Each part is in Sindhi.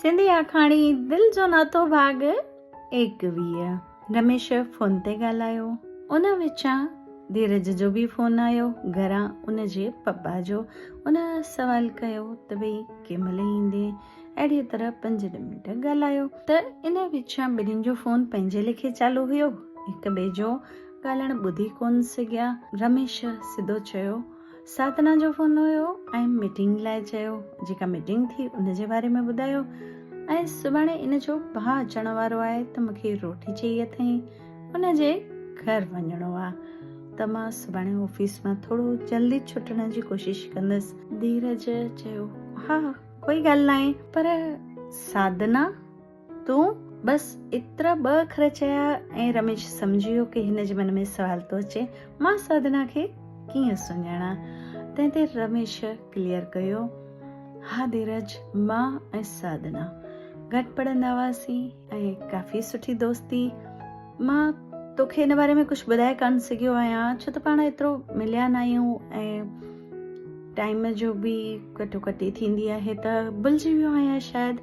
سنڌي آکاڻي دل جو ناتو ڀاڳ ايڪويهه رميش فون تي ڳالهايو ان وچان ڌيرج جو به فون آيو گهران ان جي پپا جو ان سوال ڪيو ته ڀئي ڪنهن مهل ايندين اهڙيء طرح پنج ڏهه منٽ ڳالهايو ته ان وچان ٻنهين جو فون پنهنجي ليکي چالو هيو هڪ ٻئي جو ڳالهائڻ ٻڌي ڪونه سگهيا رميش سڌو چيو سادنه جو فون هيو ۽ ميٽنگ لاء چيو، جيڪا ميٽنگ ٿي ان جي باري ۾ ٻڌايو ۽ سڀاڻي ان جو ڀاء اچڻ وارو آهي ته مون کي روٽي چئي اٿئين ان جي گهر وڃڻو آ ته مان سڀاڻي آفيس مان ٿورو جلدي ڇٽڻ جي ڪوشش ڪندس. ڌيرج چيو، ها ڪوئي ڳالهه ناهي پر سادنه. تون بس ايترا ٻه اکر چيا ۽ رميش سمجهي ويو ڪي هن جي من ۾ سوال ٿو اچي مان ساڌنا کي ڪيئن سڃاڻا تنهن تي رميش ڪليئر ڪيو ها ڌيرج مان ۽ ساڌنا گڏ پڙهندا هئاسين ۽ ڪافي سٺي دوستي مان توکي ان باري ۾ ڪجهه ٻڌائي ڪانه سگهيو آهيان ڇو ته پاڻ ايترو مليا نه آهيون ۽ ٽائيم جو به ڪٽو ڪٽي ٿيندي آهي ته بلجي ويو آهيان شايد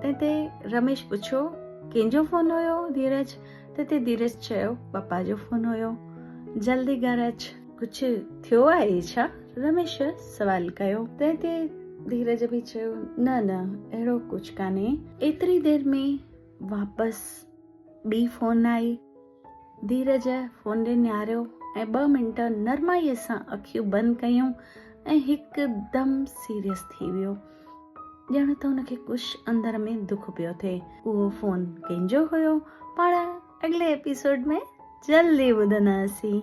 تنهن تي رميش پڇيو ڪنهن جو فون هيو ڌيرج تنهن تي ڌيرج چيو پپا جو فون هيو جلدي گهر اچ ڪجهه ٿيو آهي ڇا رميش سوال ڪيو تنهن تي ڌيرج به چيو نه نه اهڙو ڪجهه ڪانهي ايتري دير ۾ واپس ٻي فون آئي ڌيرج فون ڏي نهاريو ۽ ٻه منٽ نرمائيء سان اکيون بند ڪيون ۽ هڪدم سيريس ٿي ويو. ڄڻ ته هن کي ڪش اندر ۾ دک پيو ٿئي. اهو فون ڪنهن جو هيو؟ پاڻ اڳلي ايپيسوڊ ۾ جلدي ٻڌنداسين.